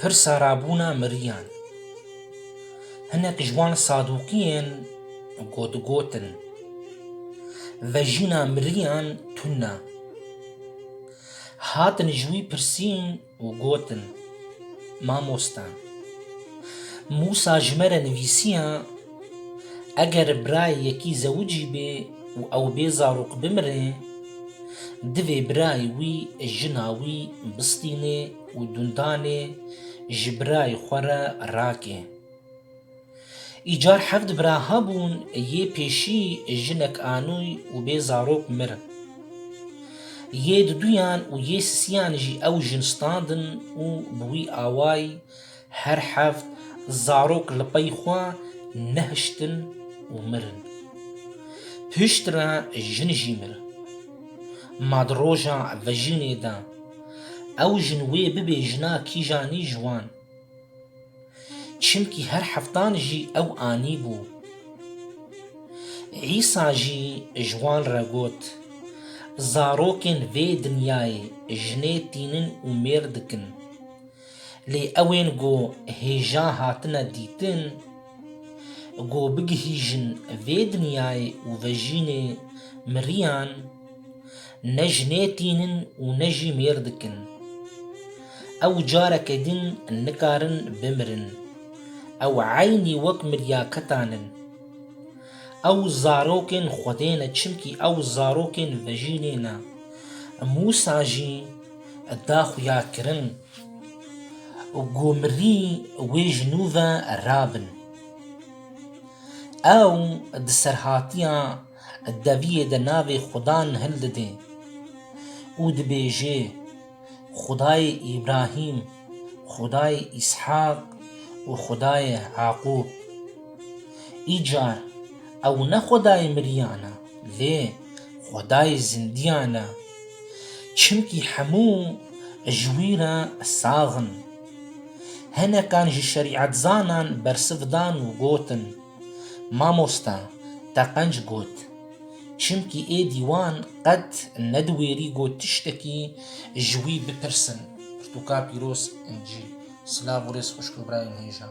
Pirsa rabûna miriyan. Hinek ji wan sadûqiyên ku digotin, vejîna miriyan tune, hatin ji wî pirsîn, û gotin, Mamosta, Mûsa ji me re nivîsiya, Eger birayê yekî zewicî bê û ew bê zarok bimire, divê birayê wî jina wî bistînê û dundanê ji birayê xwe re rake. Îcar heft bira hebûn, yê pêşî jinek anûy û bê zarok mir. Yê duduyan û yê sisiyan jî ew jin standin û bi wî awayî her heft zarok li pey xwe nehiştin û mirin. Pişt re jin jî mir. Ma di roja vejînê de ew jin wê bibê jina kîjanî ji wan. çimkî her heftan jî ew anîbû. Îsa jî ji wan re got, Zarokên vê dinyayê jinê tînin û mêr dikin. Lê ewên ku hêja hatine dîtin, ku bigihîjin vê dinyayê û vejînê miriyan, Ne jinê tînin û ne jî mêr dikin. Ew careke din nikarin bimirin. Ew eynî wek miryaketan in. Ew zarokên Xwedê ne çimkî ew zarokên vejînê ne. Mûsa jî da xuyakirin ku mirî wê ji nû ve rabin. Ew di serhatiya Deviyê de navê Xudan hildide û dibêje, Xudayê Îbrahîm, Xudayê Îshaq û Xudayê Yaqûb. Îcar ew ne Xudayê miriyan e, lê Xudayê zindiyan e, çimkî hemû ji wî re sax in. Hinekan ji şerîetzanan bersiv dan û gotin, Mamosta Teqenc got, Çimkî êdî wan qet nediwêrî ku tiştekî ji wî bipirsin. Pirtûka pîroz Encî, silav û rêz xwişk û birayên hêja.